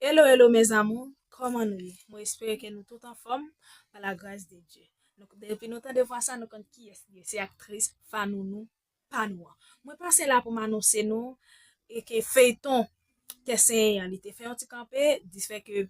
Hello hello mes amours kòman nou ye mwen espere ke nou tout anfòm pa la gras de Dye nou depi nou tande vwa sa nou konn kiyès li ye se aktris fanounou pa nou an mwen pase la pou m anonse nou e ke feyton tè senyen an li te fè yon ti kanpe dispè ke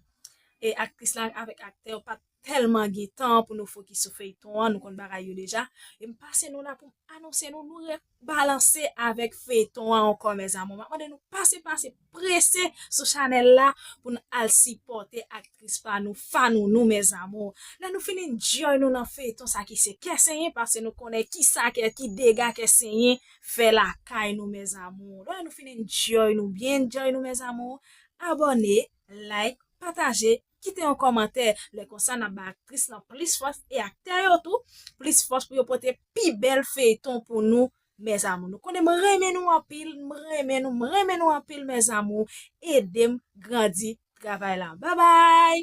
e aktris la avèk aktè yo pat telman gen tan pou nou fokis sou feyton an nou konn bagay yo deja em pase nou la poum anonse nou nou re balanse avek feyton an ankò mes amour map mande nou pase pase prese sou chanel la poun al sipote aktris pa nou fanounou mes amour lè nou fin enjoy nou nan feyton sa ki se kè senyen pase nou konnen kisa kè ki dega kè senyen fè lakay nou mes amour lè nou fin enjoy nou byen enjoy nou mes amour abone like pataje. Kite yon kòmantè, lè konsa nap bay aktris lan plis fòs e aktè yo tou plis fòs pou yo pote pi bèl feyton pou nou mes amour nou konnen m renmen nou anpil m renmen nou m renmen nou anpil mes amour edem grandi travay la bye bye.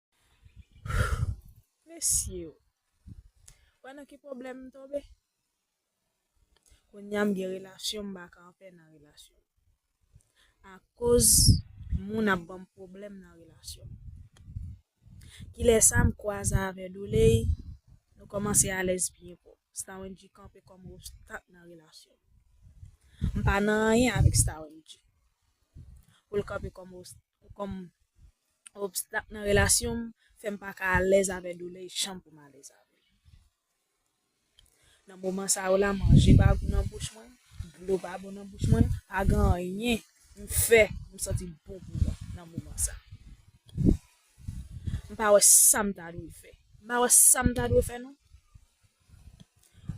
Mesye o. Wè nan ki pwoblèm m tonbe? Kounya m gen relasyon m pa ka anpè nan relasyon. Akoz moun ap banm pwoblèm nan relasyon. Kilè sa m kwaze avè Dooley, nou kòmanse alèz byen fò. Stawenndji kanpe kòm obstak nan relasyon nou. M pa nan anyen avèk Stawenndji. Pou l kanpe kòm obstak. obstak nan relasyon m fè m pa ka alèz avè doulè e chan pou m alèz avè l. Nan moman sa yo la manje pa gou nan bouch mwen, dlo pa bon nan bouch mwen, pa gen anyen m fè m santi m bon pou mwen nan moman sa. M pa wè sa m ta dwe fè. M pa wè sa m ta dwe fè non.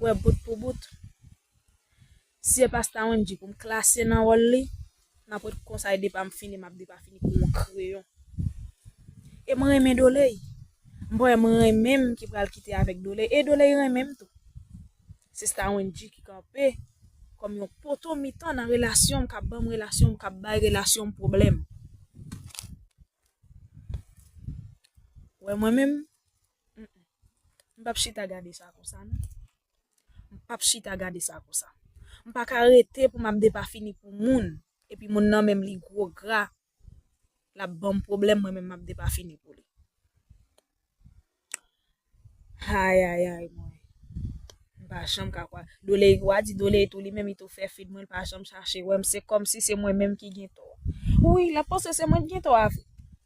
Wè bout pou bout. Si se pasta Wendy pou m klase nan wòl li, nan pwent konsa e depa m fini m ap depafini kou yon kreyon. E m renmen Doley. M pa wè m renmen m ki pral kite avèk Doley e Doley renmen m tou. Se sta Wendy ki kanpe kòm yon poto mitan nan relasyon m k ap ban m relasyon m k ap bay relasyon m pwoblèm. Wè mwen menm? M pap chita gade sa konsa non. M pap chita gade sa konsa. M pa ka rete pou m ap depafini pou moun, epi moun nan menm li gwo gra, l ap ban m pwoblèm mwen menm m ap depafini pou li. Ayayay mwen. M pa janm ka kwè. Doleyi wa di Doleyi tou li menm li tou fè fid mwen, l pa janm chache wè m, se kòmsi se mwen menm ki gen tò. Wi, l ap panse se mwen ki gen tò avè l.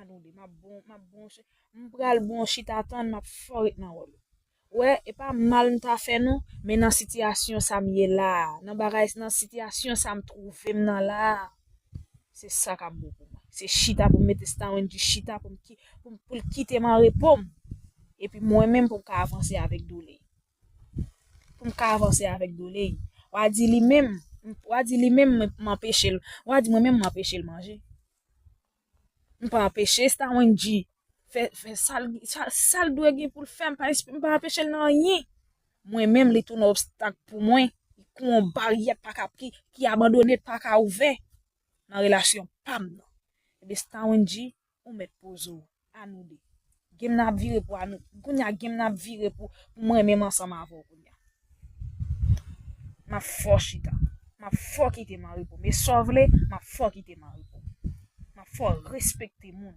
Anode, map bon, map bon, mpral bon chita tann map fò ret nan wòl. Wè, e pa mal m ta fè non, men nan sitiyasyon sa m ye la a, nan bagay, nan sitiyasyon sa m twouve m nan la a, se sa k ap bon pou mwen. Se chita pou m mete Stawen di chita pou m ki, pou l kite m an repo m, epi mwen menm pou m ka avanse avèk Dooley. pou m ka avanse avèk Dooley. Wa di li menm, wa di li menm m anpeche l, wa di mwen menm m anpeche l manje. M pa anpeche Stawenji fè, fè sal, sal dwe gen pou l fè, m pa, m pa anpeche l nan anyen. Mwen menm li tounen obstak pou mwen, kou on baryè k pa ka, ki abandone, k pa ka ouvè nan relasyon pa m nan. Ebyen Stawenji. Ou mèt poze w a nou 2. Game nan ap vire pou a nou kounya game nan ap vire pou mwen menm ansanm avè w kounya. Map fè w chita. Map fè w kite mari pou m. E sa w vle, map fè w kite mari pou m. Map fè w respekte moun.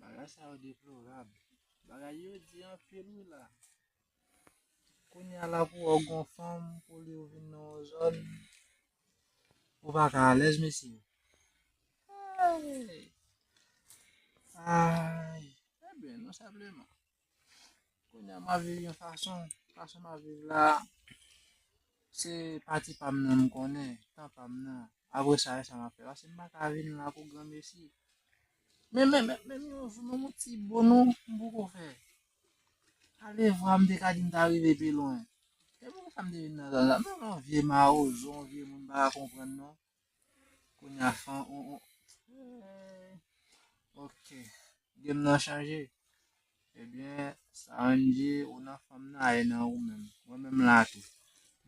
Bagay sa yo deplorab. Bagay yo di an pil ou la. Kounye ala pou ou gon fanm pou li ou vin nan zon. Ou pa ka alèz mesi. Ay. Ay. Ebe, eh nou sepleman. Kounye a m ap viv yon fason, fason m ap viv la, se pati pa m nan m konnen, tan pa m nan. Apre sa, sa m ap fè. Paske m pa ka vin la pou granmesi. Men, men, men, men, yon jou, men yon ti bonou, m poko fè. Alevwa m te ka di m ta rive pi lwen. Se pou sa m te vin nan zòn sa. M pa vle vye mawozo, vye moun m pa ka konprann non. Kounye a fan on on. Ok. Game nan chanje. Ebyen, eh sa an di ou nan fanm nan ay nan ou menm. Mwen menm la tou.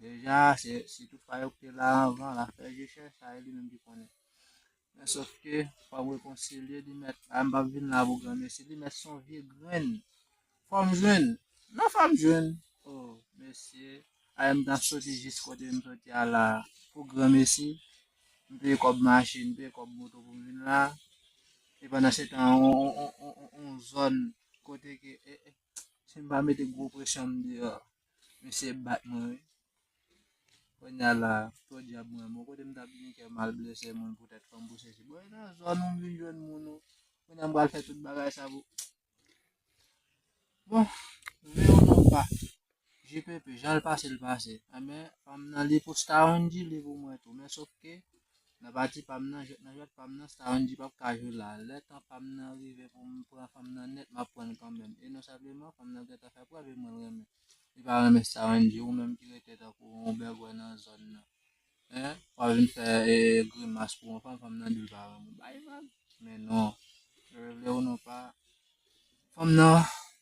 Deja, se si tout pa yo ki la anvan, la fè je chè, sa e li menm ki konnen. Men sof ke, fòm rekonsilye li mèt, a m pa vin la pou gran mesi, li mèt son vye grenn. Fòm jwenn nan fòm jwenn oh mesye ayy mta soti jis kote m soti a la pou gran mesi m peye kòb machin m peye kòb moto pou m vin la e pandan se tan on zòn kote ke si m pa mete gwo presyon m deyò mesye ep bat mwen wi kounya la podyab mwen bon kote m tap vini kèm al blese moun poutèt fanm pou sesi bon e nan zòn ou m vin jwenn moun ou kounya m pral fè tout bagay sa pou Bon, vle ou non pa, je pepe, jan l pase l pase. Anben, eh pa m nan li pou Staronji, li pou mwen tou. Men sof ke, nan pati pa m nan, nan jwèt pa m nan, Staronji pap ka jwe la. Lè tan pa m nan rive pou m pran fanm nan nèt, m ap pran l kanmenm. E non senpleman, fanm nan gentan fè prèv e mwen renmen. Li pa renmen Staronji, ou menm ki rete tankou yon bègwè nan zòn nan. Hein? Wap vin fè e grimas pou yon fanm, fanm nan di pa renmen bay vag. Men non, lè vle ou non pa, fanm nan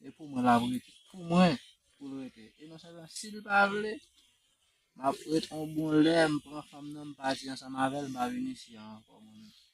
e pou mwen la vre, pou mwen pou l rete. E nan sa nan si l pa vle, map ret on bon lè, m pran fanm nan m pati ansanm avèl, m pa vin isi a ankò mwen menm.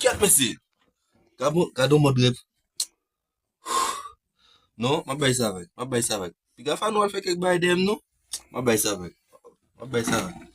Kèt mesye. Gabo, gado mod rep. Non, map bay sa vek. Map bay sa vek. Pi gafa nou al fek ek bay dem nou. Map bay sa vek. Map bay sa vek.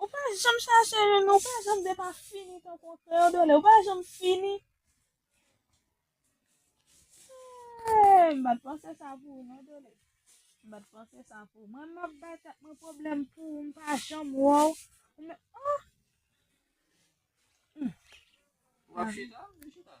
Ou pa janm chache youn, ou pa janm depa fini tankou an kreyodole, ou pa janm fini. Eee, m bat panse sa pou ou non dole. M bat panse sa pou ou. Mwen m ap bay tèt mwen pwoblèm pou ou, m pa janm wè ou. Ou men, oh! M. Ou ap chita? M chita.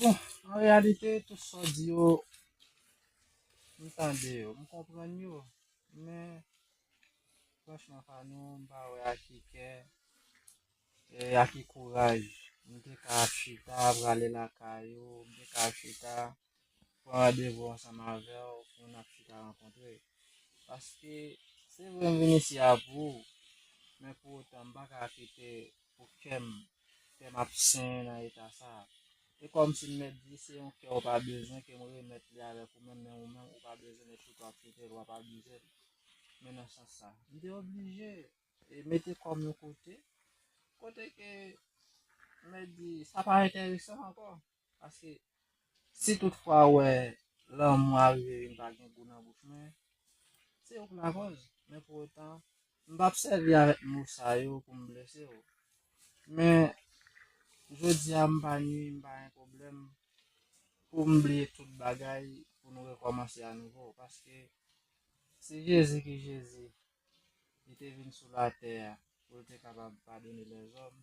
Bon, an reyalite, tout sa w di yo, m tande yo, m konprann yo, men, franchman pa nou, m pa wè ak ki kè, e ak ki kouraj, m te ka chita, prale lakay ou, m te ka chita. pran randevou ansanm avèw pou nap chita rankontre paske se vre m vin isi a pou ou men pou otan m paka kite pou kèm fèm ap senyen nan eta sa e kòmsi m mèt di se yon kè ou pa bezwen ke m remèt li avèk ou menm men ou menm ou pa bezwen e chouke wap choukel wap abizel men nan sans sa m te oblije mete kòm yon kote kote ke m mèt di sa pa enteresan ankò. Paske si tout fwa ou wè lanmou a rive vin pa gen gou nan bouch mwen, se ou k lakòz. Men pou otan, m p ap sèvi avèk mo sa yo pou m blese ou. Men, jodi a m pa nui, m pa gen pwoblèm pou m bliye tout bagay pou nou rekòmanse anouvo. Paske, se Jezi ki Jezi. Li te vin sou latè a pou l te kapab padone lèzòm.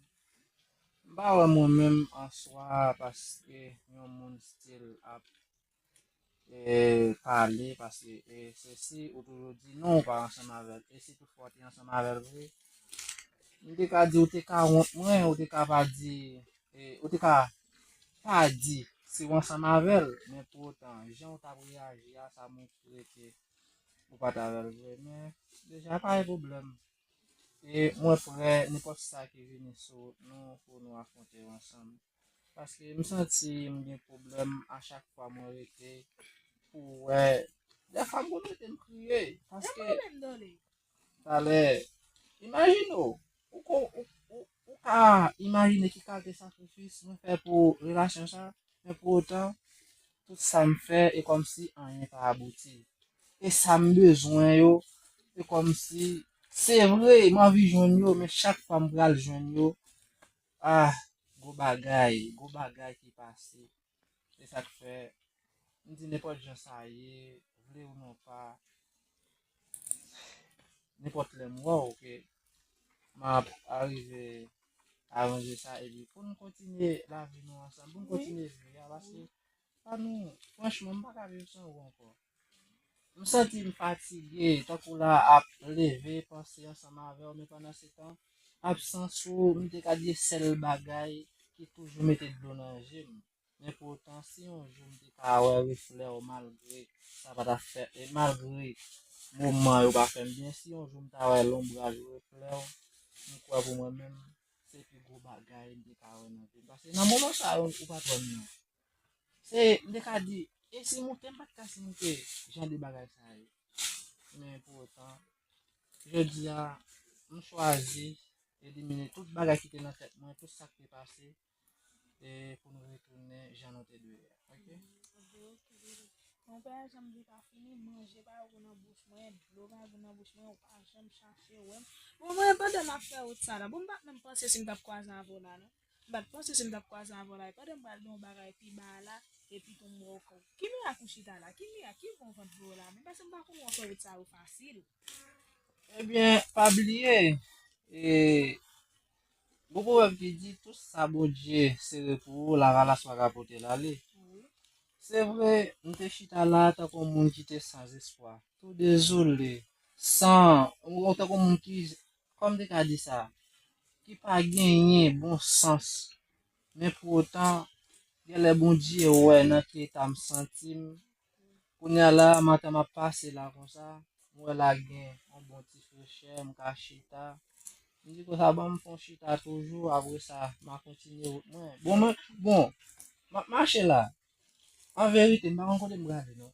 M pa wè mwen menm an swa paske yon moun stil ap e pale paske e se si ou toujou di non ou pa ansanm avè l e si tout fwa w te ansanm avè l vre m te ka di ou te ka wont mwen ou te ka pa di e ou te ka pa di si w ansanm avè l men pou otan jan ou t ap reyaji a sa montre ke Ou pa ta wèl vre men deja pa gen pwoblèm. E mwen prè nenpòt sa ki vini sou wout nou pou nou afwonte yo ansanm. Paske m santi m gen pwoblèm a chak fwa mwen rete pou wè dèfwa m konn rete m kriye paske Talè, imajine w, ou ko, ou, ou, ou ka imajine ki kalte sakrifis mwen fè pou relasyon sa, men pou otan, tout sa m fè e kòm si anyen pa abouti. E sa m bezwen yo, e kòm si, se vre, m anvi jwenn yo, men chak fwa m pral jwenn yo, ah, gwo bagay, gwo bagay ki pase. Se sa k fè, m di nenpòt jan sa ye, vle ou non pa, nenpòt lè m wè w ke m ap arive aranje sa epi pou n kontinye lavi nou ansanm, pou n kontinye vi a paske pa nou, franchman m pa ka viv san ou ankò. M santi m fatige, tankou la ap leve panse ansanm avè w men pandansetan, absans ou m te ka di e sèl bagay ki toujou mete dlo nan je m. Men poutan si yon jou m te ka wè reflè w malgre sa pa ta fè e malgre moman yo pa fè m byen si yon jou m ta wè lonbraj ou reflè w m kwè pou mwen menm se pi gwo bagay m te ka wè nan vi m paske nan moman sa yo ou pa t wè m nan. Se, m te ka di, e si moute, m pa t ka si moute jan de bagay sa yo. Men pou otan, jodi a, m chwazi elimine tout bagay ki te nan tèt mwen, tout sa k te pase, e pou nou retounen jan nou te dwe a. Ok? Mwen pa janm di pa fini, manje pa gou nan bouch mwen, dlo pa gou nan bouch mwen, ou pa janm chache wè m. Bon, mwen pandan m ap fè wout sa la, bon m pa t menm panse si m t ap kwaze avè w la non. m pat panse si m tap kwaze avèw la e pandan m pral di yon bagay pi ba a la epi tou m wèw kòw ki mirak ou chita la ki mirak ki bon vant vèw la menm paske m pa konn wè fè rout sa yo fasil. Ebyen pa bliye e gon pwovèb ki di tout sa Bondye sere pou ou lavalas pa ka potel ale se vre m te chita la tankou yon moun ki te san zespwa tou dezole san tankou yon moun ki Kòm te ka di sa, ki pa genyen bon sans, men pou otan, gèlè Bondye wè nan ki eta m santi m, kounye a la a m antan m ap pase la konsa, m wè la gen yon bon ti frechè, m ka chita, m di konsa ban m fè yon chita toujou, apre sa m a kontinye wout mwen. Bon, m ap mache la, an verite m pa konn kote m prale non,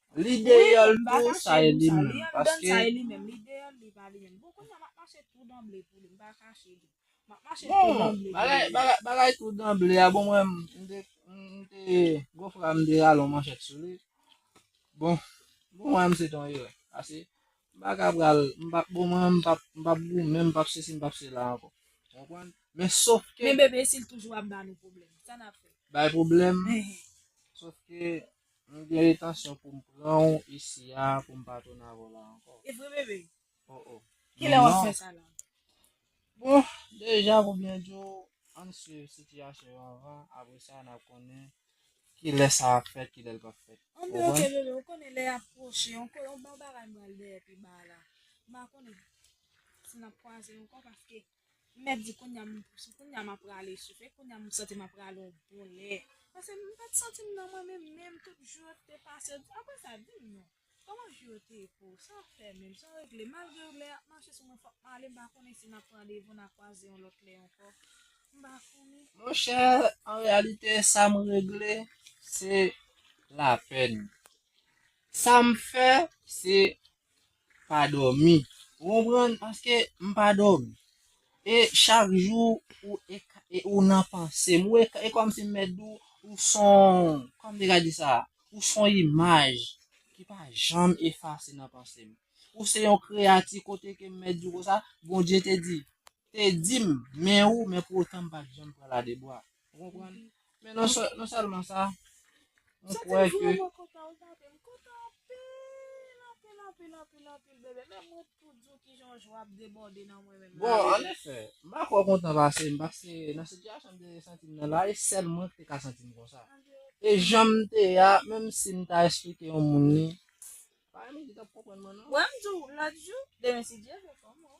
Li deyol tou sa e li menm paske. Bon bagay tou danble a bon mwen m te gwo fra m te ralon manchet sou li. Bon bon mwen m se ton ire. Ase m pa ka pral m pa bon mwen m pap m pap gou menm pap se si m pap se la anko. Konprann? Men sof ke. Men bebe sil toujou ap ba nou pwoblem. Sa nap fe? Bay pwoblem. Sof ke. Mwen gen etansyon poum pranw isi a poum pa tounen avèw la ankò. E vre bebe? Oh oh. Kilè wap fè sa la? Bon, deja pou byen diw, ann swiv sitiyasyon yo anvan, apre sa nap konnen kilè sa ap fèt, kilè l pap fèt. An ben ok bebe, ou konnen lè a pwoche, on bon bagay m pral dèyè pi ba la. M pa konnen si nap kwaze ankò paske. M mèt di kounya m se kounya m aprale soupe kounya m santi m aprale on bon lè pase m pat santi m nan mwen menm menm tout jou yo te pase aprè sa di m non kòman jou yo te ye pou ou san fè menm san regle malgre lè ap mache sou mwen fòk m ale m pa konnen si na pran randevou na kwaze yon lòt lè ankò m pa konnen. Monchè an reyalite sa m regle se lapèn sa m fè se pa dòmi ou konprann paske m pa dòmi e chak jou ou e ou nan panse m ou e e kòmsi m mèt di w ou s on kòman m te ka di sa ou s on imaj ki pa janm efase nan panse m ou se yon kreyati kote ke m mèt di w konsa Bondye te di te di m men ou men pou otan m pa t janm pran ladebwa Ou konprann? Men non sè, non sèlman sa, mwen Sa te kwè ke vrèman kontan ou tande. M kontan anpil, anpil, anpil, anpil, anpil bebe. Menm mwen tou di w kijan w jwa ap debòde nan mwen menm Bon, la an bebe. efè, m pa kwè w kontan pase m, paske nan sitiyasyon m te santi m nan la, e sèl mwen ki te ka santi m konsa. An de E efè. jan m te ye a, menm si m ta esplike yon moun li, pa gen moun ki t ap konprann mwen non. Wè m di w lòt jou, demen si Dye vle kòman w?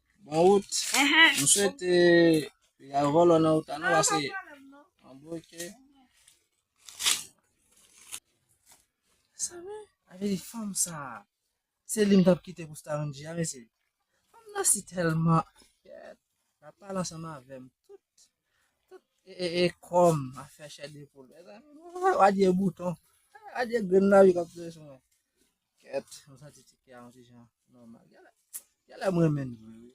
Bon wout. M swete ya volo nan wout anou ase. An boke. Sa vè? Ave li fanm sa. Se li m tap kite pou Starinji a mesi. Fanm nan si telman. La pale ansanm avem. Tout. Tout. E e e kom. A fè chè de poul. Adye bouton. Adye grenn la vi kap tou sou mwen. Kèt, mwen santi ti kè a yon ti jan nòmal. Gèlè mwen men vre.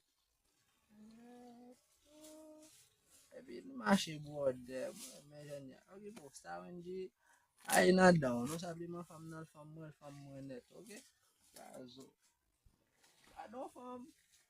Epi nou mache bwode, mwen men jen ya. Ok, bon, sa wen di, a e nan dan, nou sa bi man fam nan, fam mwen, fam mwen net, ok? Sa zo. Sa don fam.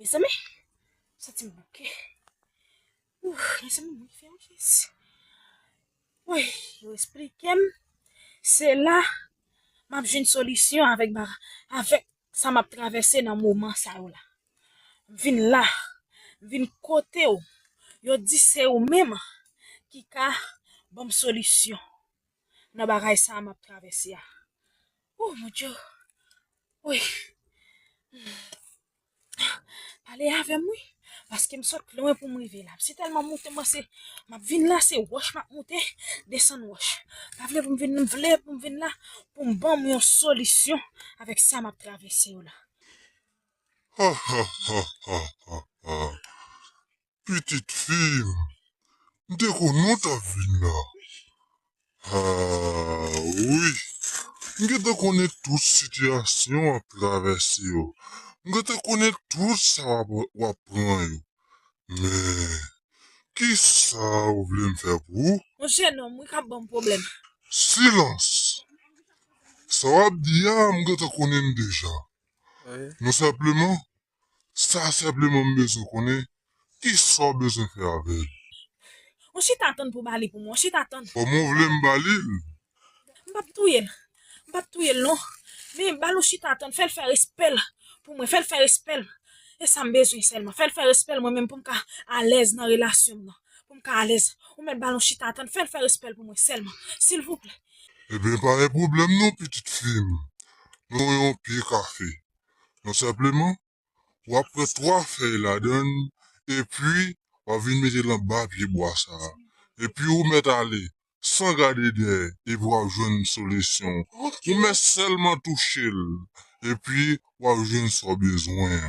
Mezanmi, santim bouke. Ouf, mezanmi mwen fè yon fès. Oy, yo esplikem, se la map jwenn solisyon avèk ba, avèk sa map travèse nan moman sa yo la m vin la m vin kotew yo di se ou menm ki ka banm solisyon nan bagay sa map travèse a ooh mon Dieu wi pale avèm wi. Paske m sot lwen pou m rive la. M si tèlman moute mwen se m ap vin la se wòch m ap moute desann wòch. Pa vle pou m vin m vle pou m vin la pou m ban m yon solisyon avèk sa m ap travèse yo la. Hahahaha pitit fi m. M te konnen w t ap vin la. Haa wi m gentan konnen tout sitiyasyon wap travèse yo m gentan konnen tout sa wap pran yo men kisa ou vle m fè pou ou. Yon jenòm wi kap banm pwoblèm. Silans! Sa wap di a m gentan konnen l deja. Non senpleman Sa senpleman m bezwen konnen kisa w bezwen fè avè l. Mwen chita tann pou w ba li pou mwen, mwen chita tann. Kòman w vle m ba li l? M pap touye l, m pap touye l non. Men, ba l ou chita tann, fè l fè respè l pou mwen, fè l fè respè l. E sa m bezwen sèlman, fè l fè respè l mwen menm pou m ka alèz nan relasyon m nan, pou m ka alèz. Ou mèt ba l ou chita tann, fè l fè respè l pou mwen sèlman, silvouplè. Enben, pa gen pwoblèm non pitit fi m. Nou pran yon pye kafe. Tout senpleman, w ap pran 3 fèy ladan l epi w ap vin mete l anba pyebwa sa a. Epi ou mèt ale san gade dèyè epi w ap jwenn solisyon. Ou mèt sèlman touche l epi w ap jwenn sa w bezwen an.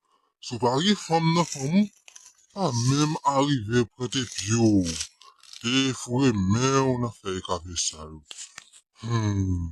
Si w pa gen fanm nan fanm ou pa menm arive pwente pye w e foure men w nan fèy kafe sa yo humm.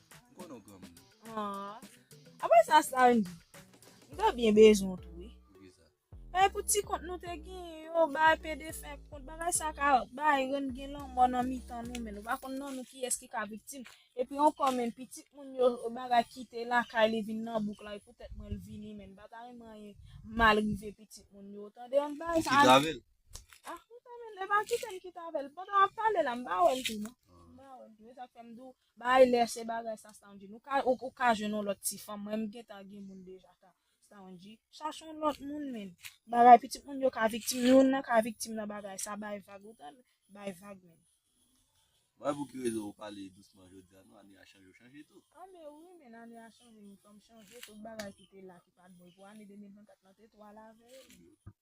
Konon gran moun. Aww. Apre sa Sandy. M ta byen bezwen w tou wi. Poukisa? Bay pou ti kont nou te genyen yo bay pe defen kont bagay sa ka bay rann gen lanmò nan mitan nou menn ou pa konn nan nou kiyès ki ka viktim epi ankò menn pitit moun yo bagay kite lakay li vin nan bouk la e poutèt mwen l vini menn m pa ta renmen anyen mal rive pitit moun yo tande an bay sa. Ou kite avèl? Ah m ta renmen e pa kite m kite avèl pandan wap pale la m pa wèl tou non m pa wèl tou e sak fè m di w Bay lè se bagay sa Staundi nou ka ou ka jwenn yon lòt ti fanm mwen m gentan gen moun deja sa Staundi chache yon lòt moun menn bagay pitit moun yo ka viktim youn nan ka viktim nan bagay sa bay vag ou tande bay vag menn. Mwen pou ki rezon ou pale dousman jodia non ane a chanje ou chanje tou. Anmeyy wi menn ane a chanje m tou m chanje tout bagay ki te la ki pat bon pou ane 2024 lan te twò alave yo menn.